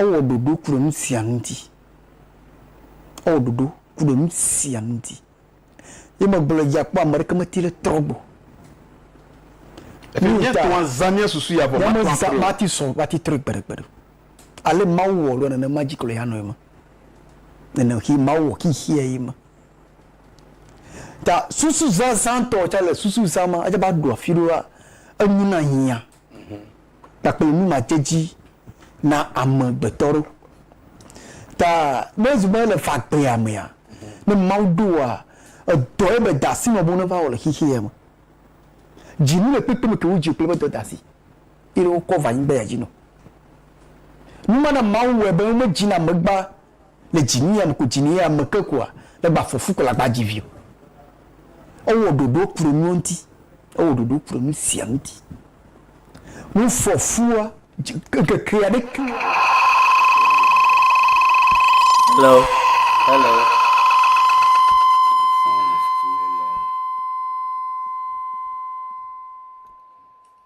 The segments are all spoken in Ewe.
Ewɔ ɖoɖo ku ɖe nu sia nu ŋuti. Ewɔ ɖoɖo ku ɖe nu sia nu ŋuti. Ye megblɔ dzi akpɔ ame aɖeke meti ɖe trɔ gbɔ. Eye míetɔa zã mía susu ya vɔ mate ŋu atrɔe o. Mate ŋu sɔ, mate ŋu trɔe gbeɖegbeɖe o. Ale Mawu wɔ ɖoa nenema dzi kplɔe anɔ eme. Nene xee Mawu wɔ xexeɛ ye ma. Ta susu zazã tɔ tsa le susu zã ma atsa va ɖo afi ɖoa enu na hiã kpakple nu ma dze dzi na ame gbetɔ ɖo. Ta ne zu be le fagbea mea, ne Mawu ɖoa edɔ ye be dasi nɔ bo ne va wɔ le xexeɛ me. Dzi nu le kpekpe me ke wo dzi kple be dɔ dasi. eye wokɔ va anyigbaea dzi nɔ. Nu ma na Mawu wɔe be womedzina ame gbã le dzinyeame ko dzinyeame ke ko a, legba fɔfu ko legba dzi vi o. Ewɔ ɖoɖo kple nuwo ŋuti. Ewɔ ɖoɖo kple nu sia ŋuti. Nu fɔfua, dzi, ŋkeke aɖeke. Hello. Hello.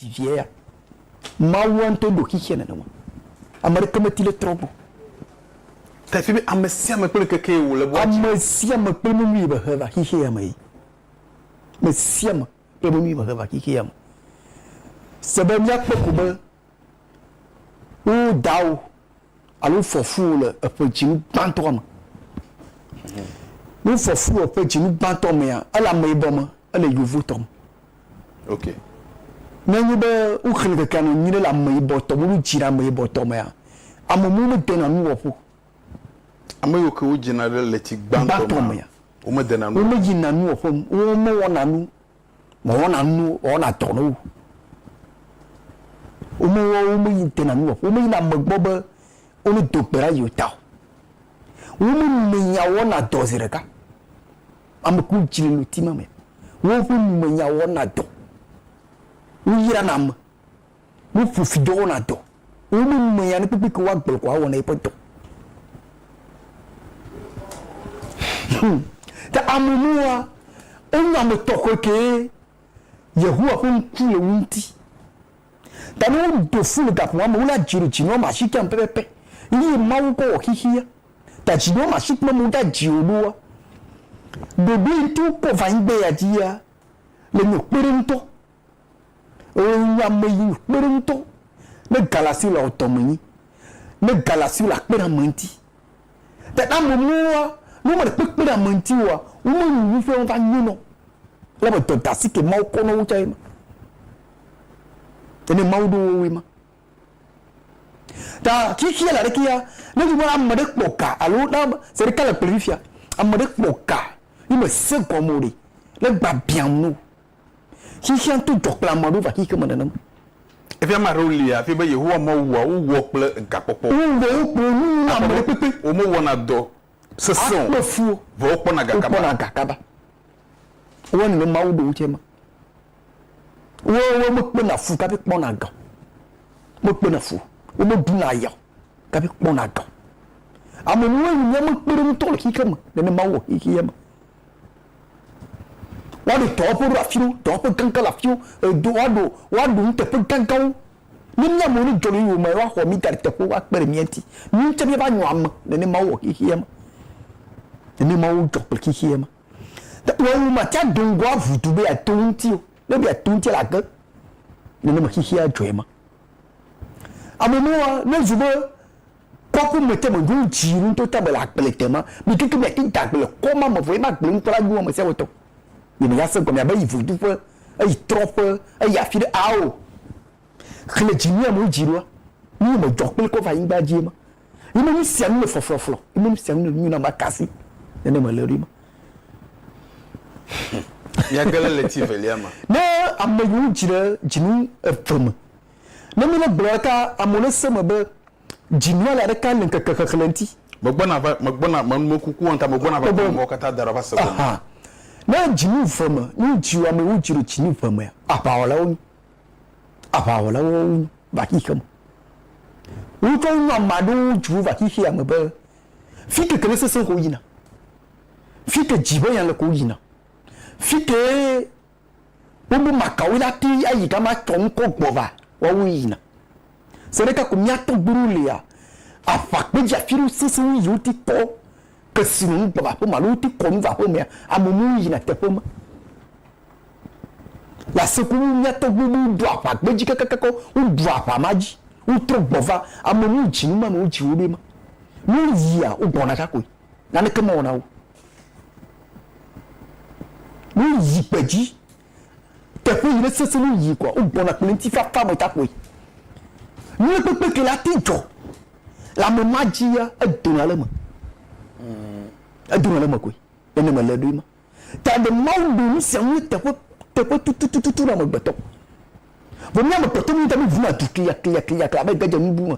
Vivie ya. Mawua ŋutɔ ɖo xexea nenema. Ame ɖeke meti le trɔ gbɔ. Ta fi be ame sia ame kple ŋkeke yi wòle bua dzi. Ame sia ame kple menu yi be he va xexea me yi. Ame sia ame kple menu yi be he va xexea me. Se be míakpɔ ko be wo dawo. alo wofɔ fu wò le eƒe dzinu gbãtɔa me. Ne wofɔ fu wò eƒe dzinu gbãtɔ mea, ele ameyibɔ me, ele yevotɔ me. Ok. Ne enye be woxlẽ kekea nɔ nyuiɖe le ameyibɔtɔ me, woɖo dzi ɖe ameyibɔtɔ mea, ame mɔwo medena nu wɔƒo. Ame yiwo ke wodzina ɖe ɣleti gbãtɔ mea, womedena nu wɔƒo. Womeyina nu wɔƒe o. Womewɔna nu Mewɔna nu, mewɔna dɔ ne wo. Womewɔ, womeyi dena nu wɔƒe, womeyina ame gbɔ be wo ne do gbe ɖa yewo ta o. Womenumenya wɔna dɔ zi ɖeka. Ame ku dzi le ŋuti ma me. Woƒe numenya wɔna dɔ. Woyrana ame. Woƒo fi dɔ wɔna dɔ. Womemea nu kpekpe ke woagblɔ ko awɔna yeƒe dɔ. Hum. Ke ame nua, enye ame tɔxɛ kee. Yehowa ƒe ŋku le wo ŋuti. Ta ne wodo flu le gaƒoa me, wole adzi ɖo dzi nɔ ma shikam pɛpɛpɛ. Eye Mawu kɔ wɔ xixia. Ta dzi nɔ ma shikme me woda dzi wo ɖoa, ɖoɖoe ŋuti wokɔ va anyigba ya dzia, le nyɔ kpeɖe ŋutɔ. Eye nye ame yi kpe ɖe ŋutɔ ne ga le asi la ɔtɔ me nyi, ne ga le asi la kpe ɖe ame ŋuti. Ta ne ame mɔwoa, ne wome le kpekpe ɖe ame ŋuti oa, wome nu ŋu ƒe va nyo nɔ. Elabe dɔdasi ke Mawu kɔ nɔ wo tsa ye ma. Ene Mawu ɖo wowoe ma. Ta xixeɛ la ɖekea, ne nyi be ame ɖe kpɔ ga alo na be se ɖeka le kplɔe fifia, ame ɖe kpɔ ga yi me se gɔme o ɖe, ne gba biam no. Xexea to dzɔ kple ame aɖewo va xexea me nenema. Eƒe ame aɖewo li hafi be Yehowa mewɔa wo wɔ kple gakpɔkpɔ o. Wowɔ wo kple nu ŋu na ame aɖe kpekpe. Womewɔna dɔ sesẽ o, vɔ wokpɔna gakaba. Wowɔ nenema wu ɖewo tsɛ ma. Woawo mekpena fu kaƒi kpɔna ga o. Mekpena fu o. Womeɖuna aya o kaƒi kpɔna ga o. Ame nue nye míaƒe kpeɖeŋutɔ le xexea me nenema wowɔ xexea me. Woaɖo dɔwɔƒewo ɖe afiwo, dɔwɔƒe gãgã le afiwo, edo woaɖo woaɖo nuteƒe gãgãwo. Ne mía amewo ne dzɔdzɔyɔyɔ me woaxɔ mí da ɖe teƒewo akpe ɖe mía ŋuti. Mí ŋutɔ míava nyo ame nene Mawu wɔ xexeɛ me. Nene Mawu dzɔ kple xexeɛ me. Wɔwɔ mate ado ŋgɔ aʋu du be yeato wo ŋuti o. Ne ebe yeato wo ŋuti la age. Nenema xexeɛ adzɔe ma. Amewo mlɔa ne zu be Kpɔ ku mete me ɖo ŋtsi nu ŋtɔ ta be le agble te ma mi keke mia te da agble kɔ ma me vɔ ye ma agble ŋtɔ la nua me sia wetɔ ye me ya se gɔme abe yi vodu ƒe eyi trɔ ƒe eyi afi ɖe ao xle dzi mia me dzi ɖoa nu ye me dzɔ kple kɔ va anyigba dzi ye ma ye me nu sia nu le flɔflɔflɔ ye me nu sia nu le nyu na ma kasi ne ne me le ɖo ye ma mia gele le ti velia ma ne ame yiwo dzi ɖe dzinu eve me Ne mílé gblɔ ɖe ta amewo ne se me be dzi nua le aɖeke le ŋkeke xexlẽ ŋti. Megbɔna va, megbɔna, me, me kuku wɔnta, megbɔna va kpɔ mɔwo katã da ɖa va se gɔme. Aha. Ne dzi nu ve me, ne wo dzi ame wo dzi ɖo dzi nu ve mea, aʋawɔlawo nyi. Aʋawɔlawo wo nyi va xixe me. Wo tsɔ nu ame aɖewo wo dzi wo va xixea me be fike ke ne sese ko wo yina. Fike dzi be ya le ko wo yina. Fike Wobu makawoe la te ayi gama tsɔ ŋkɔ gbɔ va, woawo yina. Se ɖeka ko mía tɔgbuiwo lea, aʋa kpe dzi afi ɖewo sese wu yiwo ti kɔ kesinɔnu gbɔ va aƒeme alo woti kɔ nu va aƒemea, ame muwo yina teƒe ma. Le ase ku wu mía tɔgbuiwo be woɖu aʋa kpe dzi kekekekeɔ, woɖu aʋa ma dzi, wotrɔ gbɔ va, ame muwo dzi nu ma nɔ wo dzi wo ɖoe ma. Ne woyia, wogɔna ɖa koe, naneke mewɔna wo o. Ne woyi gbedzi, teƒe yi ne sesẽ nu yii koa, wogbɔna kple ŋutifafa me takpoe. Ne kpekpe ke la te dzɔ le ame ma dzia, edona le eme. Edona le eme koe. Nene mele ɖoe ma. Ta ɖe Mawu ɖo nu sia nu teƒe teƒe tutututu na amegbetɔ. Vɔ mí amegbetɔ míeŋutɔ míevuna du kliakliakliaklia be gege nubu me.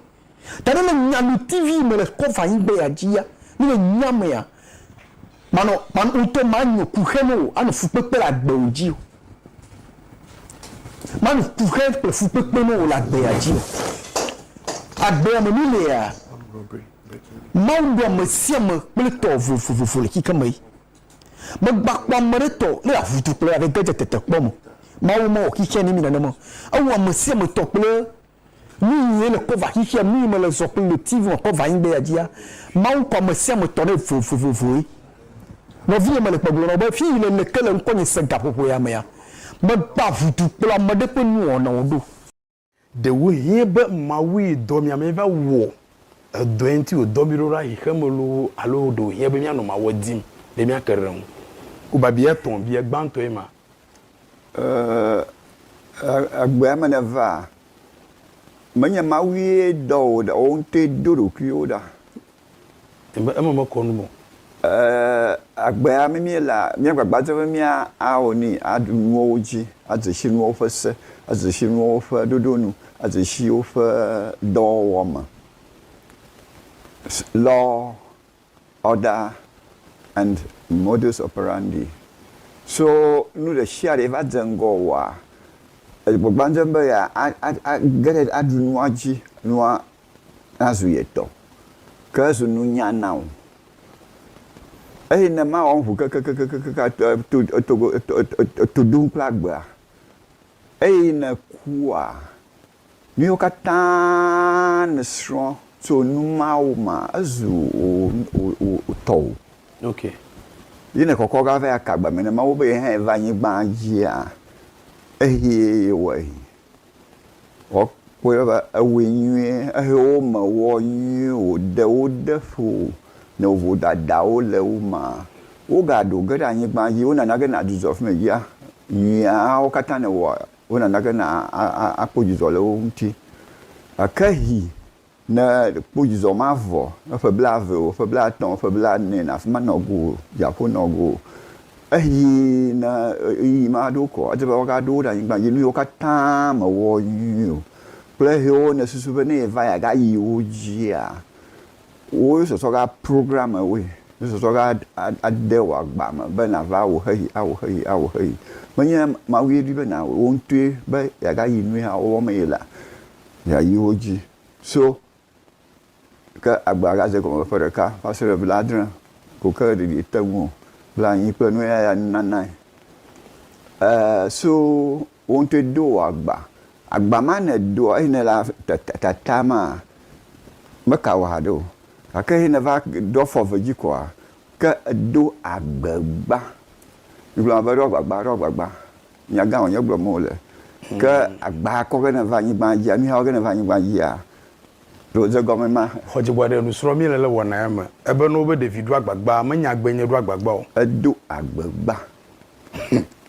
Ta ne le nya nu TV me le cover anyigba ya dzi ya, ne le nya me ya, manɔ, man ŋutɔ manyo kuxɛ ne wò, anɔ fukpekpe le agbe wò dzi o. Manɔ kuxɛ kple fukpekpe ne wò le agbe ya dzi o. Agbe ya me nu le ya. Mawu ɖo ame sia ame kple tɔ vovovovo le kike me yi. Megbakpɔ ame ɖe tɔ le avutu kple aɖe gedze tete kpɔ me. Mawu mewɔ kike ne mi nanema. Ewu ame sia ame tɔ kple Nu nyuie le kɔva xixea nui mele zɔ kple le TV me kɔva anyigba ya dzia, Mawu ŋkɔ ame sia ame tɔ ɖe vovovoe. Nɔvinye mele gbe gblɔ na wò be fii le le ke le ŋkɔnye se gaƒoƒo ya mea, megbea ʋudu kplɔ ame ɖe ƒe nuwɔnawo ɖo. Ɖewohĩ be Mawue dɔ mí ame va wɔ edɔe ŋuti wòdɔ mí ɖo ɖa xexeme loo alo ɖewohĩa be míanɔ Mawua dim be míake ɖe eŋu. Ku babiae etɔ̃ bia gbãtɔe ma, egbea me nèva? Menye Mawue dɔ wò ɖa, wò ŋutɔe do ɖokuiwò ɖa. Eme, eme mekɔ nu me o. Ee, egbea me míelea, míagbagba dzem be míawɔ nui, aɖu nuwo dzi, adze si nuwo ƒe se, adze si nuwo ƒe ɖoɖo nu, adze si woƒe dɔwɔwɔ me. Lɔ. Order and modus operandi, So nu ɖesiaɖe va dze ŋgɔ wɔa, egbɔgbandzem be ya a ge ɖe aɖu nua dzi, nua nazu ye tɔ, ke ezu nunya na wò. Eye ne mawɔ ŋu kekekekekekekekaa e to e togo e to e to e to ɖom kple agbea, eye ne ekua, Míwo katã nèsrɔ̃ tso nu mawo me, ezu wò tɔwo. Yi nèkɔkɔ va va aka agbame na Mawu be yehãe va anyigba dzia, exiɛ yewɔe. Woakpɔe be ewɔe nyuie, ehe wo me wɔ nyuie, wòɖe wo ɖe ƒo ne wò vodadawo le wo me. Wogaɖo ge ɖe anyigba dzi, wonana ge nàdzudzɔ afi me dzia, nyuiawo katã nèwɔ wona nake na akpɔ dzidzɔ le wo ŋuti. Gake hi ne kpɔ dzidzɔ ma vɔ ne ƒe blave o, ƒe blatɔ̃, ƒe blanɛ na afi ma nɔ go o, dziaƒo nɔ go o. Eyi ne ɣeyiɣi ma ɖo kɔ edze be woaga ɖo wo ɖe anyigba dzi. Nu yiwo katã me wɔ nyui o kple hewo ne susu be ne va yi aga yi wo dzia, Wo sɔsɔ ga program ewoe. Wo sɔsɔ ga ade wò agba me be nàva awu xexi, awu xexi, awu xexi. Menye Mawue di be nàwui wò ŋutɔe be yeagayi nu ya wɔwɔ me ye la, yeayi wo dzi so ke agba ga ze gɔme ƒe ɖeka va se ɖe blaadre ko ke ɖeɖi ete ŋu o. Blanyi kple nuya ya nunanae. E so. Wò ŋutɔe do wò agba. Agba ma nèdoa eye nèlea tata maa, meka wò haɖe o. Gake eye nèva ɖo afɔ eve dzi koa, ke èdo agbagba. Migblɔna be, Ɖo agbagba, ɖo agbagba. Nyagã wònye gblɔm wòle. Ke agba kɔ ge nèva anyigba dzia, nuya wɔ ge nèva anyigba dzia, ɖe wòde egɔme ma? Xɔ dziku aɖe nusrɔ̃ mí le le wɔna ya me. Ebe na wo be ɖevi ɖo agbagba, menya egbee nye ɖo agbagba o. Edo agbagba.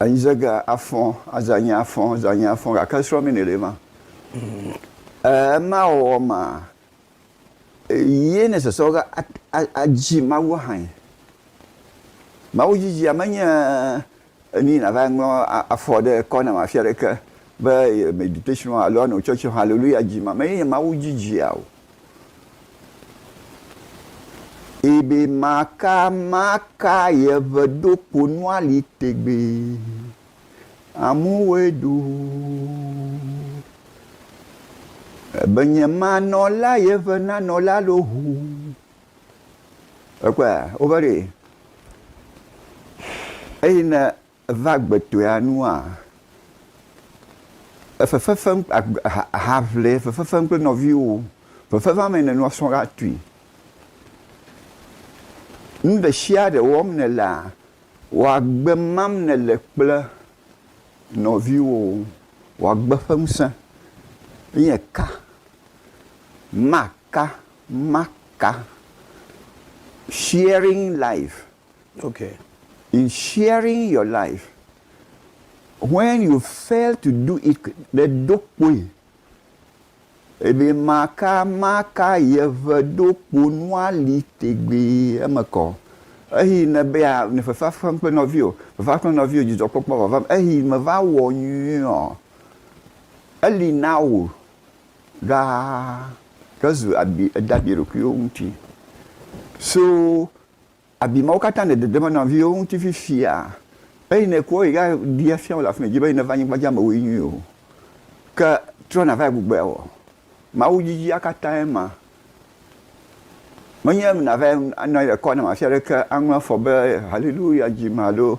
Anyizeege afɔ̃, azãnyi afɔ̃, zãnyi afɔ̃, gake srɔ̃mini ɖe ma. Ɛɛ, ema wɔwɔ ma yie ne sesɔ ge adzi Mawu hãe. Mawu dzidzia menye ni nàva ŋlɔ afɔ ɖe kɔnam afi aɖeke be meditation alo ano tsɔtsi haleluya dzi ma. Menye Mawu dzidzia o. Ebe maka maka yeʋe ɖo kponua li tegbee. Amu woe ɖu. Ebe nye ma nɔ la yeʋe na nɔ la lo ʋu. Ekpɔa, wova ɖe. Eyi ne Eva gbetɔea nua? Efefefem ahaʋli fefefem kple nɔviwo. Fefefea me nènɔ srɔ̃ la tui. Nu ɖe sia ɖe wɔm nèlea, wò agbe mam nèle kple nɔviwo. Wò agbe ƒe ŋusẽ nye ka? Maka, maka. Sharing life. Ok, in sharing your life, when you fail to do it, ɖe ɖo kpoe, ebe maka maka yeʋe ɖo kpo nua li tegbee eme kɔ. Eyi ne be ya ne fefa fem kple nɔviwo, fefa kple nɔviwo dzidzɔ kpɔkpɔ vava me, eyi me va wɔ nyuie ɔ, eli na wo ɖaa ke zu abi eda bi ɖokuiwo ŋuti. So Abi mawo katã nèdedem na viwò ŋuti fifia, eye nèku wo yi ɖa ɖi afia wo le afi nèdi be neva anyigba dzi amewoe nyi o. Ke trɔ nàva gbugbɔe awɔ. Mawu dzidzia katãe ma. Menye nàva anɔ anyi ɖe kɔ nam afi aɖeke aŋlɔ afɔ be, Haleluya, dzi me alo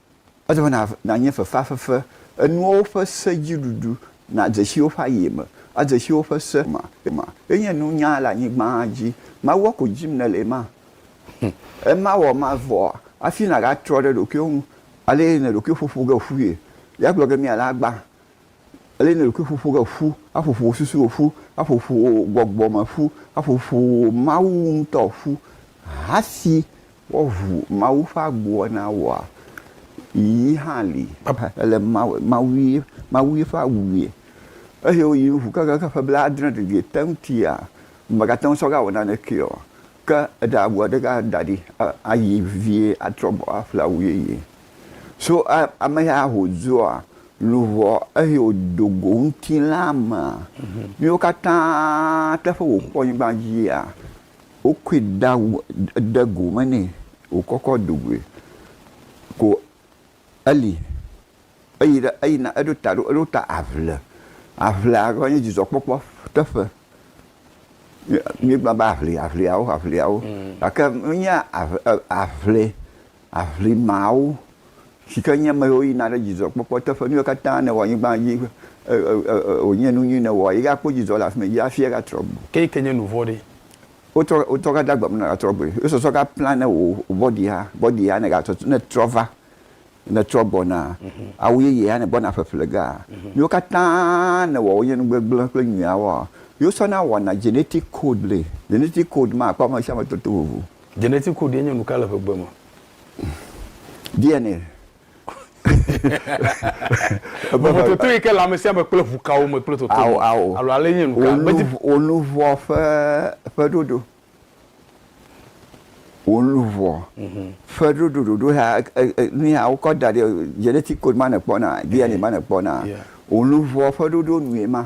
Ele be nànye fefeafefe, enuawo ƒe se dzi ɖuɖu, nàdze si woƒe aye me, adze si woƒe se me. Ema enye nunya le anyigba dzi. Mawua ko dim nèle ema? Hm, ema wɔ ema vɔa, hafi nàgatrɔ ɖe ɖokuiwò ŋu ale yi nèɖokui ƒoƒo ge ƒui. Ya gblɔ ge mí ale agba, ale yi nèɖokui ƒoƒo ge ƒu, aƒoƒo wò susuwo ƒu, aƒoƒo wò gbɔgbɔ me ƒu, aƒoƒo wò Mawu ŋutɔ ƒu, hafi Woʋu Mawu ƒe agboa na woa? Yi hã li. Ele Mawue, Mawue ƒe awue. Eye woyi ŋu kekeake ƒe blaadre didi te ŋutia, womegate ŋu sɔ ge awɔ nanekee o. Ke eɖe agboa ɖeka da ɖi ayi vevie atrɔ gbɔ aƒle awu yeye. So ame ya wòdzoa luʋɔ eye wòdo go ŋutilãa mea, míwo katã teƒe wòkpɔ nyigba dzia, wokɔe da de go me nɛ wòkɔ kɔ do goe ko eli. Eyi ɖe eyina eɖo ta ɖo eɖo ta aʋle. Aʋlea va nye dzidzɔkpɔkpɔ teƒe. Míegblɔna be aʋli aʋliawo aʋliawo gake menye aʋ e aʋli aʋlimawo si ke nye ame yiwo yina ɖe dzidzɔkpɔkpɔ teƒe, nu yiwo katã nèwɔ le anyigba dzi, wònye nu nyui nèwɔ, ye akpɔ dzidzɔ le afi ma, ye hafi atrɔ gbɔ. Ke yi ke nye nu vɔ̃ ɖe? Wotrɔ gade agbe me ne nàtrɔ gbɔe. Ye sɔsɔ gaplã ne wò bɔdi hã, bɔdi hã ne gatrɔ, ne ètrɔ va, ne ètrɔ gbɔna, awu yeye hã ne gbɔna ƒeƒle ge hã, nu yiwo katã nèwɔ wonye nu gbegblẽ kple nyuiawoa, ye wosɔna wɔna genetic code le. Genetic code ma, àkpɔ amesiame tɔtɔ vovo. Genetic code ye nye nuka le ƒegbe me? DNA. Vovototo yi ke le amesiame me kple ʋukawo me kple toto me alo ale nye nuka? Wò luʋɔ ƒe ɖoɖo. Wò luʋɔ mhm. ƒe ɖoɖo ɖoɖo ya nuya wokɔ da ɖi genetic code ma nekpɔna DNA ma nekpɔna. Wò luʋɔ ƒe ɖoɖo nue ma.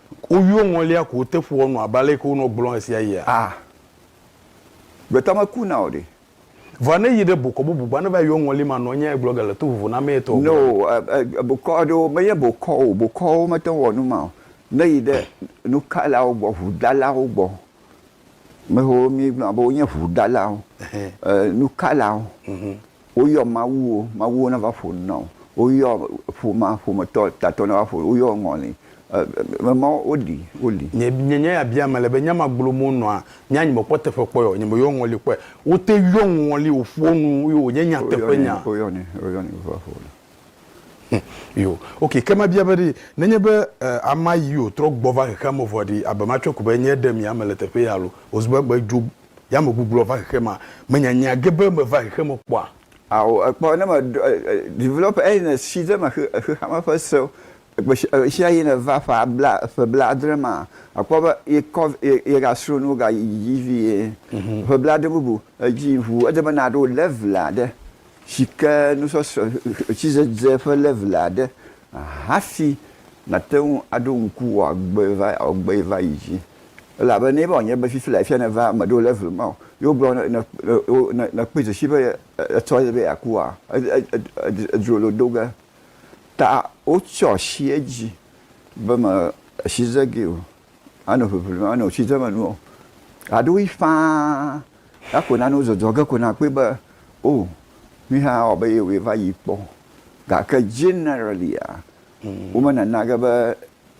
Woyɔ ŋɔlia ko te ƒoa nu abe ale ke wonɔ gblɔm ɣesiaɣia? A! Gbetɔ meku na o ɖe! Vɔa ne yi ɖe bokɔ bubu gbɔ ne va yɔ ŋɔli ma nɔ nyae gblɔ ge le to vovo na ame etɔ̃ gɔ̃. No, bokɔ aɖewo menye bokɔ o, bokɔwo mete ŋu wɔ nu ma o. Ne yi ɖe nukalawo gbɔ, ʋudalawo gbɔ, mehe wo mí gblɔna be wonye ʋudalawo, nukalawo. Woyɔ mawuwo, mawuwo nava ƒo nu na wò. Woyɔ ƒomea, ƒometɔ tatɔ nava ƒo nu. Woyɔ ŋɔli, eme mawo woɖi, woli. Nye nye nya ya bia mele be nya ma gblom wo nɔa nya nye me kpɔ teƒe kpɔe ɔ nye me yɔ ŋɔli kpɔe wo te yɔ ŋɔli wo ƒoa nu ye wo nye nya teƒe nya. Wo yɔ nɛ wo yɔ nɛ wo va ƒo nu. Hum yo ok ke ma bia be ɖi ne nye be e ama yi yo trɔ gbɔ va xexea me vɔ ɖi abe ma tsɔe ko be nye ɖe mia me le teƒe ya alo wo zu be gbe dzo Ya megbugbɔ va xexemea? Menyanya ge be meva xexeme kpɔa? Ao, èkpɔ, ne meɖɔ, develop eyi nèsi ɖe eme xe, xexeame ƒe sewo, gbeshi, ɣeshiaɣi nèva ƒe abla, ƒe blaadre mea, àkpɔ be yekɔ, ye, yegasrɔ nuwo gayi dzi vie. Ƒe blaadre bubu edzi ŋu, ede be nàɖo level aɖe, sike nusɔsrɔ̃, ɣletidzedze ƒe level aɖe, hafi nàte ŋu aɖo ŋku wò agbe va, wò agbe va yi dzi. Elabe ne eva wònye be fifi la efia nèva eme ɖo le vlo me o, ye wogblɔ be nèkpɔe dzesi be etsɔ ye be yeakua? Edzro lo do ge ta wotsyɔ asi edzi be me si ze gee o, ano ʋeʋli ano tsi dze me nu o. Aɖo ɣi ƒãa la ko nanewo dzɔdzɔ ge ko nàkpɔe be o nuya awɔ be ye wòe va yi kpɔ. Gake generally-a, womenana ge be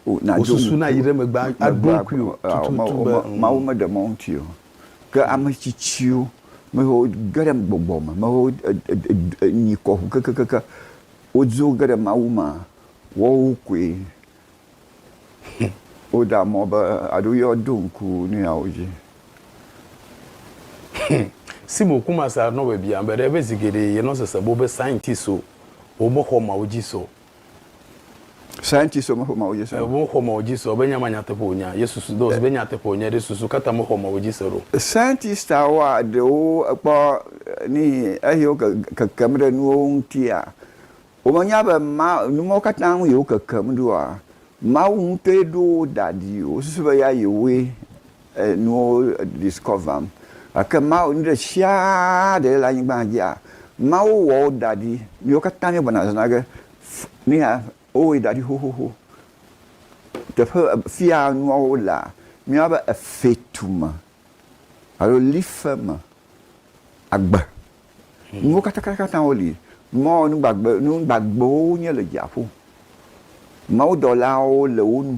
Wosusu na yi ɖe megbe aɖo ŋkui o tututu be ŋ. Mawu meɖe mɔ ŋuti o. Ke ame tsitsiwo, ame yiwo ge ɖe gbɔgbɔ me, ame yiwo nyi kɔ ŋu kekeake, wodzo ge ɖe Mawu me, woawo koe woɖea mɔ be alo yɔ ɖo ŋku nu yawo dzi. Simo Kumasa nɔ be biã be ɖe ebe zi geɖe ye nɔ sese bo be scientist o, wo me xɔ Mawu dzi se o. Scientists me xɔ Mawu dzi se. Wo xɔ Mawu dzi se o be nya ma nyateƒe wònya. Yesu su do be nyateƒe wònya ɖe susu kata me xɔ Mawu dzi se ɖo. Scientists awoa ɖewo ekpɔ ni eye wo kekem ɖe nuwo ŋutia, wo me nya be ma nu mawo kata ŋu ye wo kekem ɖoa, Mawu ŋutɔe ɖo wo da ɖi. Wo susu be ya ye woe nuwo discoverm gake Mawu nuɖesiaɖe le anyigba dzia Mawu wɔ wo daɖi miwo katã mi gblɔna zã ge nuya wo wɔe daɖi xoxoxo teƒe fia nuawo lea miwa be efe tu me alo life me agbe nuwo katãkatã wo li mɔ nugbagbe nugbagbewo nye le dziaƒo Mawu dɔlawo le wo nu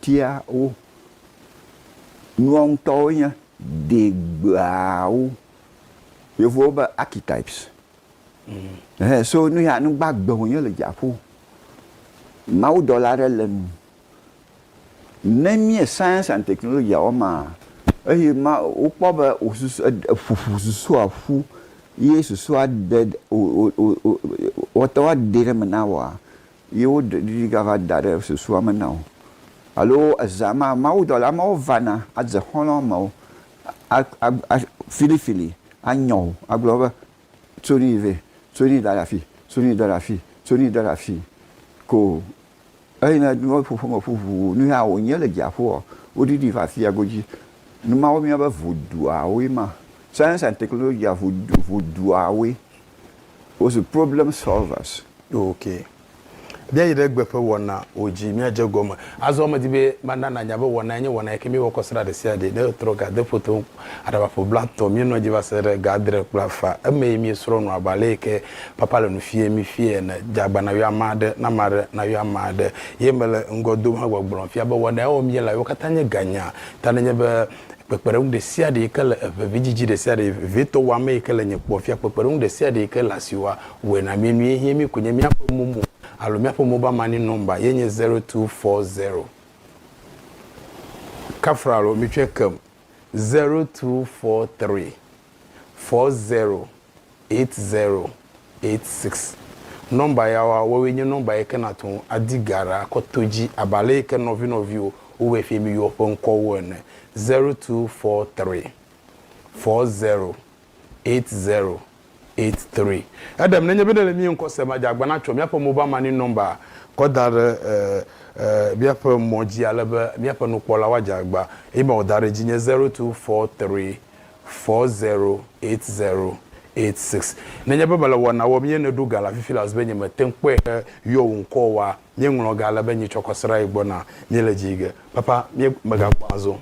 Tia wo. Nua ŋutɔwo nye degbeawo. Yevuwo be archetypes. Ɛhɛ, so nu ya nu gbagbe wònye le dziaƒo. Mawudɔla aɖe le nu. Ne míe science and technology wɔmaa, eye ma, wokpɔ be wò susu, e, eƒoƒo susua ƒu ye susua de, o, o, o, o, wɔte woade ɖe eme na woa, Ye woɖiɖi gava da ɖe susua me na wò. Alo ezã ma, mawudɔla mawo vana adze xɔlɔ̃ mewò a, a, a, filifili anyɔ wò agblɔ be, Tso nu yi vɛ, tso nu yi da ɖe afii, tso nu yi da ɖe afii, tso nu yi da ɖe afii. Ko eyi ne nuwo ƒoƒo me ƒu ʋuu, nu ya wònye le dziaƒoa, woɖiɖi va afia godzi. Nu mawo míeyɔna be voduawoe ma. Science and technology, vodu, voduawoe. Wozu problem solvers. Ok. Míayi ɖe gbe ƒe wɔnawo dzi míadze egɔme. Azɔ medi be mana nànya be wɔnae nye wɔna yi ke míewɔ kɔ srã ɖesiaɖe. Ne ètrɔ ga de foto ŋu aɖabaƒo blatɔ, míenɔa edzi va se ɖe ga adre kple afã. Emee míesrɔ̃ nu abe ale yi ke papa le nu fiee mí fiẽ ene. Dze agba nàyɔ ame aɖe, na ame aɖe nayɔ ame aɖe. Ye mele ŋgɔ dom hegbɔgblɔm fia be wɔnae wɔm míele ayewo katã nye ganya. Ta nenye be kpekpeɖeŋu ɖesiaɖe yike le eve vidzidzi ɖesiaɖe vevitɔ wɔ ame yike le nye kpɔ fia kpekpeɖeŋu ɖesiaɖe yike le asi wɔ wɔe na mí nue hie mí konye míaƒe momo alo míaƒe mobile money number ye nye zero two four zero kafra alo mitsɔe kem zero two four three four zero 8086. Nɔmba yawoa, woawoe nye nɔmba yi ke nàte ŋu adi ga ɖe akɔ to edzi abe ale yi ke nɔvinɔviwo wowɔe fie be yewoa ƒe ŋkɔwo ene. 0243 408083. Eɖem nenye be nèle mía ŋkɔ sem adze agbana tsɔ míaƒe mobal mani nɔmba kɔ da ɖe míaƒe mɔ dzi ale be míaƒe nukpɔlawo adze agba. Email da ɖe edzi nye 0243 four zero eight zero eight six. Nenye be mele wɔna wɔm ye nèɖo ga le afi fila zi be nyemete ŋu kpɔe he yɔ wò ŋkɔ oa, míeŋlɔ ga ale be nyetsɔ kɔ srã yi gbɔ na míele dzi ge. Papa, mí mègakpɔ azɔ o.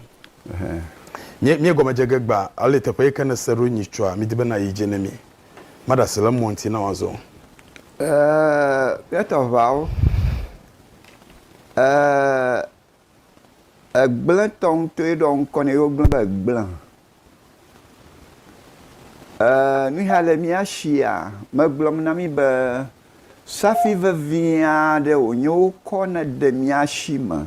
Mí míegɔme dze ge gbã ale teƒe yi ke nèse ɖo nyitsɔa mídi be nàyi dzi ne mí. Maɖe asi le mɔ ŋuti na wò azɔ o. Ee, míetɔ ʋɔawo. Ee. Egblẽtɔ ŋutɔe ɖɔ ŋkɔ nɛ ye wogblẽ be gblẽ. Ee, nu ya le mía shia megblɔm na mí be safi vevi aɖe wònye wokɔ ne de mía shi me.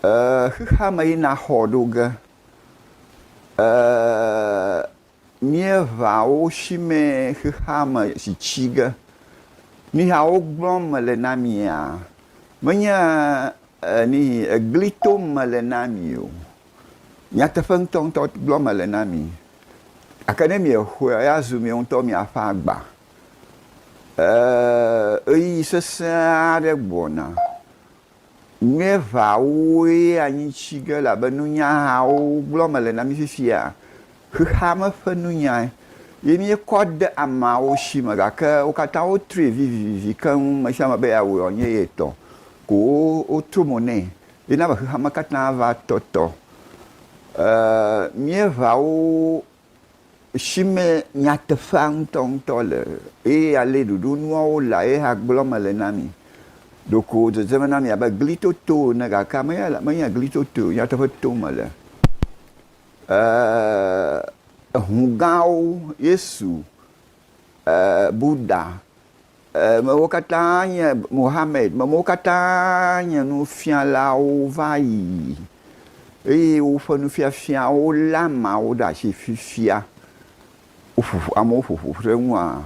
Ee, xexeame yina xɔ ɖo ge. Ee, Míeʋã wo shimɛ xexeame si tsi ge. Niha wogblɔm mele na mia? Menye nihi egli tom mele na mi o. Nyateƒe ŋutɔŋutɔ gblɔm mele na mi. Gake ne miexɔe la, azu miawo ŋutɔ miaƒe agba. Ɣeyiɣi sesẽ aɖe gbɔna. Míeʋãwoe anyitsi ge elabe nunyahawo gblɔm mele na mí fifia. Xexeame ƒe nunyae ye míekɔ de ameawo si me gake wo katã wotree vivivivi keŋ, ame sia ame be yeawɔe wòanye ye tɔ ko wotro mo nɛ hena be xexeame katã va tɔtɔ. E Míeʋãwo si me nyateƒea ŋutɔŋutɔ le eye ale ɖoɖonuawo le ye hã gblɔm mele na mi. Ɖeko dzedzeme na mi abe gli toto ene gake menye gli totoe o, nyateƒe tom mele. Ʋu gãwo, Yesu Buda, mewo katã nye Mohamɛd, mewo katã nye nufialawo va yi, eye woƒe nufiafiawo lé ameawo ɖe asi fifia. Amewo ƒo ƒu ɖe eŋua?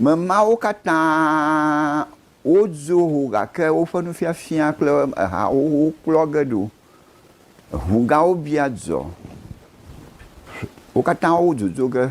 Ame mawo katã wodzo ho gake woƒe nufiafia kple ha xoxowo kplɔ ge ɖo. Ŋugãwo bia dzɔ. Wo katã wodzodzo ge.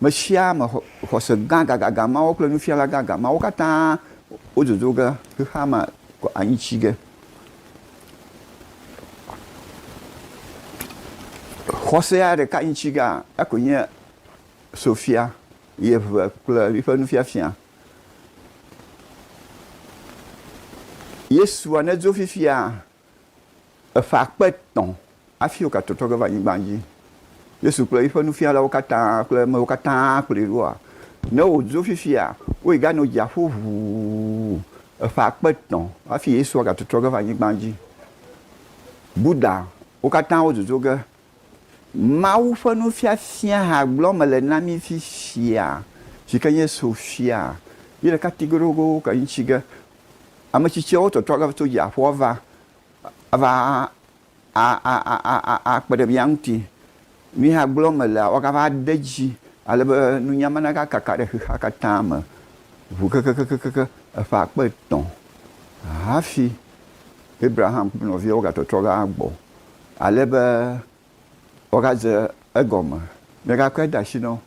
Mesiame xɔse gã gãgãgã mawo kple nufiala gãgã mawo katã wododo ge xexea me kɔ anyi tsi ge. Xɔsea ɖeka nyi tsi gea, ekɔe nye Sofia, yeve kple yiƒe nufiafia. Yesua nedzo fifia Eƒe akpe etɔ̃ hafi wogatotɔ ge va anyigba dzi. Yesu kple eƒe nufialawo katã kple emewo katã kplɔe ɖoa? Ne wòdzo fifia, woyi ɖa nɔ dziaƒo ʋuu eƒe akpe etɔ̃ hafi Yesua gatotɔ ge va anyigba dzi. Buddha, wo katã wodzodzo ge. Mawu ƒe nufiafia hã gblɔ mele na mí fifia, si ke nye Sofia, yi ɖeka ti goɖogoɖo ke ŋuti ge ametsitsiawo tɔtrɔ aɖe va tso dziaƒoa va ava aa kpeɖe mía ŋuti. Mi hã gblɔ me lea woagava de edzi ale be nunya ma naga kaka ɖe xexea katã me ʋu kekekekekekeŋ eƒe akpe etɔ̃ hafi Abraham kple nɔviawo ga tɔtrɔ va gbɔ ale be wogadze egɔme, megakɔe de asi na wo,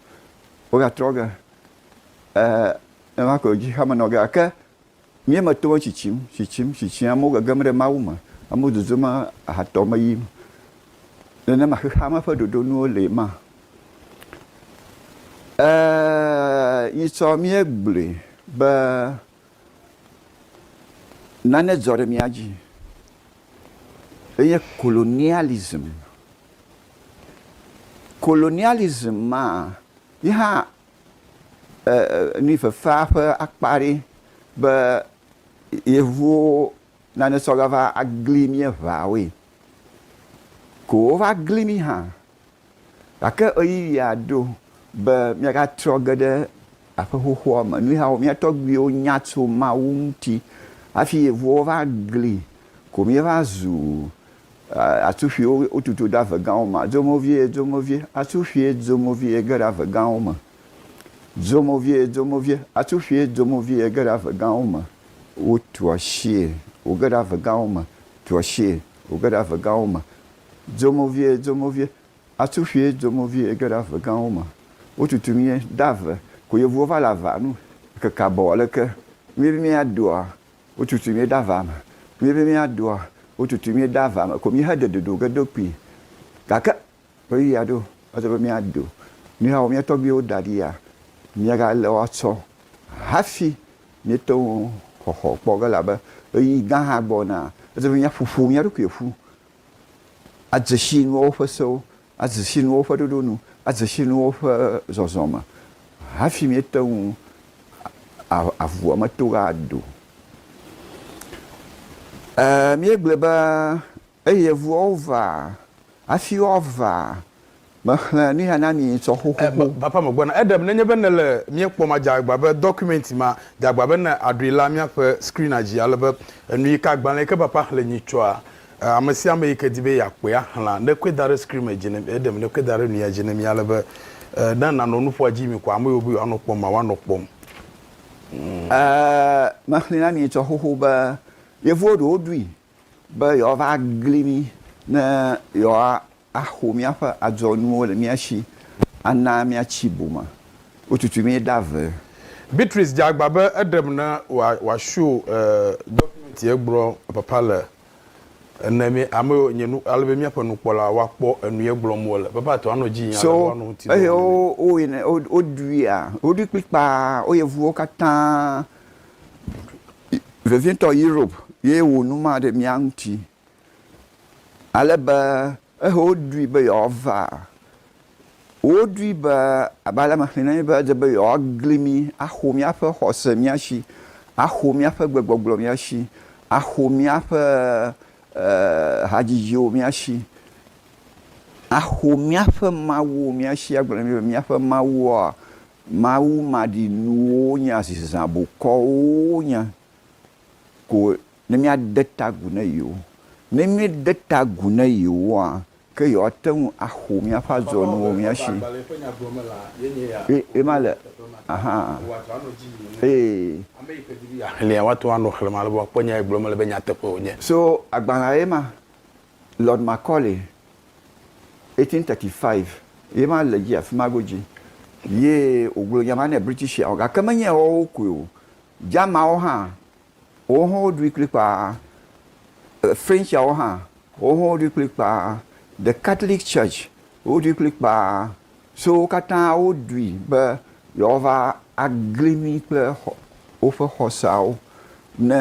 wogatrɔ ge, ee, nenema koe wòdzi xame na wo. Gake mía me tɔwo tsitsim, tsitsim, tsitsim, amewo gegem ɖe Mawu me, amewo dodom ahatɔ me yim. Nenema xexea me ƒe ɖoɖonuwo lee ma? Ee, nyitsɔ míegblɔe be nane dzɔ ɖe mía dzi. enye kolonialism. Kolonialism maa, ye hã nuyifefea ƒe akpa aɖee be Yevuwo nane sɔ gava gli míeŋawoe. Ko wova gli mí hã Gake ɣeyiɣia ɖo be míagatrɔ ge ɖe aƒe xoxoa me. Nuyawo mía tɔgbuiwo nya tso Mawu ŋuti hafi yevuwo va gli ko míeva zu atsuƒuiwo wotutu ɖe ave gãwo me. Zomo vie, zomo vie, atsuƒui zomo vie ge ɖe ave gãwo me. Zomo vie, zomo vie, atsuƒui zomo vie ge ɖe ave gãwo me. Wotu asie wòge ɖe ave gãwo me, tu asie wòge ɖe ave gãwo me. Dzomovie, dzomovie, atu ƒie dzomovie ege ɖe ave gãwo me. Wotutu mie de ave ko yevuwo va le avea nu keke abɔ aleke mie be mia doa wotutu mie de avea me mie be mia doa wotutu mie de avea me ko mie he de dodo ge do kpi gake ɣeyiɣia ɖo edzɔ be mia do mihawo mia tɔgbiwo da ɖi ya mia ga le woa tsɔ hafi mie teŋu xɔxɔ kpɔ ge la be ɣeyiɣi gã hã gbɔ na edzɔ be mia ƒoƒo mia ɖokui ƒu Adze si nu woƒe sewo, adze si nu woƒe ɖoɖo nu, adze si nu woƒe zɔzɔme hafi míete ŋu aʋua me to ado. E, míegblɔe be, Eye ʋuawo vaa, hafi woavaa, Mexlẽ nu ya na mi ŋutɔ xoxoxo. Ba, Bapa Megbɔna, Eɖem nenye be nèle mía kpɔm adze agba be dɔkumɛnti ma, dze agba be ne àɖoe la míaƒe screen-a dzi ale be enu yi ke agbalẽ yi ke Bapa xlẽ nyi tsɔa, ame sia ame yi ke di be yeakpɔe axlẽa, nekɔe da ɖe screen me dzi ne mí. Eɖem nekɔe da ɖe nu ya dzi ne mí ale be ne nànɔ nu ƒoa dzi mi ko ame yiwo be yewoanɔ kpɔm ma woanɔ kpɔm. Mexlẽe na mi ŋutɔ xoxo be yevuwo ɖewo ɖui be yewoava agli mí ne yewoaxo míaƒe adzɔnuwo le mía si ana míatsi bu me. Wotutu mí ɖe ave. Beatrice dze agba be eɖem ne wòasho dɔkumɛnti egblɔ papa le ene mɛ ame yiwo nye nu ale be míaƒe nukpɔla woakpɔ enu yi gblɔm wole. Papa tɔ anɔ dzi yim ale be woanɔ ŋuti dɔ wɔm ne mí. Eye woɖui kplikpaa wo yevuwo katã vevietɔ Europe ye wò nu ma ɖe mía ŋuti, ale be ehe woɖoe be yewoava. Woɖoe be abe ale me xlẽna be edze be yewoagli mí, axo míaƒe xɔse mía si, axo míaƒe gbegbɔgblɔ mía si, axo míaƒe hadzidziwo mía si, axo míaƒe mawuwo mía si, agblɔ na mí be míaƒe mawuwoa Mawu maɖinuwo nya zi zã bokɔwo nya ko ne míade ta agu ne yewo. Ne míede ta agu ne yewoa, ke yewoate ŋu axo míaƒe adzɔnuwo mía shi. Ema le, aha, ee. Xlẽa, woate ŋu anɔ xlẽm ale be woakpɔ nya yi gblɔm mele be nyateƒe wònye. So agbalẽa ye ma. Lord Macaulay, 1835, ye ma le dzi afima godzi ye wògblɔ nya ma ne Britishiawo, gake menye yeawo koe o, Germanwo hã, wowo hã woɖui kplikpaa, Frenchiawo hã, wowo hã woɖui kplikpaa, The Catholic Church, woɖui kplikpaa, So wo katã woɖui be yewoava agli mí kple woƒe xɔseawo. Ne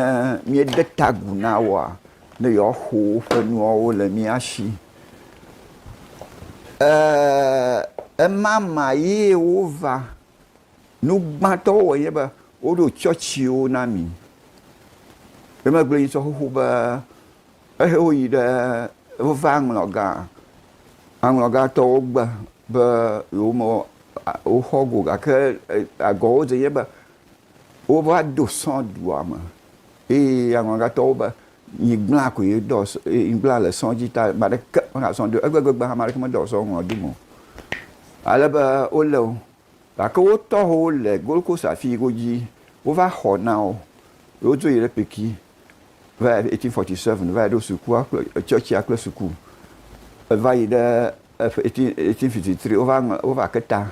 míede ta agu na woa, ne yewoaxo woƒe nuawo le mía si. E, emama ye wova. Nu gbãtɔ wowɔ nye be woɖo tsɔtsiwo na mi. Womegblɔ nye sɔ xoxo be Eye woyi ɖe, wova aŋlɔ gã. Aŋlɔ gã tɔwo gbe be yewome woxɔ go gake agɔwo dze nye be wova do sɔ̃ dua me. Eye aŋlɔ gã tɔwo be nyigblã koe dɔ nyigblã le sɔ̃ dzi ta ame aɖeke mexɔ sɔ̃ do. Egbegbe hã ame aɖeke medɔ sɔ̃ ŋlɔ do me o. Ale be wolé wo. Gake wo tɔho le Gold Coast afii godzi wova xɔ na wo ye wodzo yi ɖe Peki va yi eighteen forty seven va yi ɖo sukua kple tsɔtsia kple suku eva yi ɖe eighteen eighteen fifty three wova ŋlɔ wova ke ta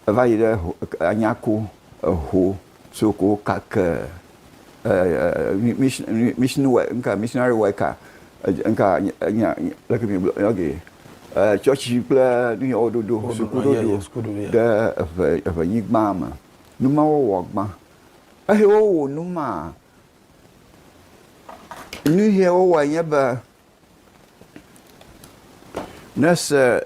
eva yi ɖe ho Anyako eho So ko kake missionary worker leke migblɔ yɔ ge tsɔtsi kple nu yɔ woɖoɖo sukuɖoɖo ɖe eʋe nyigba me numa wɔwɔ gbã ehe wowo numa nuhe wowɔ nye be nese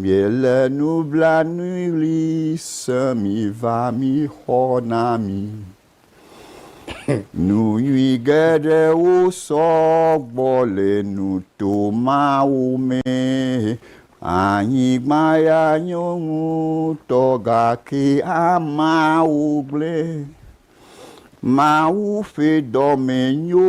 Miele nublanuiɣli se mi va mi xɔ na mi. Nu nyui geɖewo sɔ gbɔ le nuto mawo me. Anyigba ya nyo ŋutɔ gake ameawo gblẽ. Mawu ƒe dɔme nyo.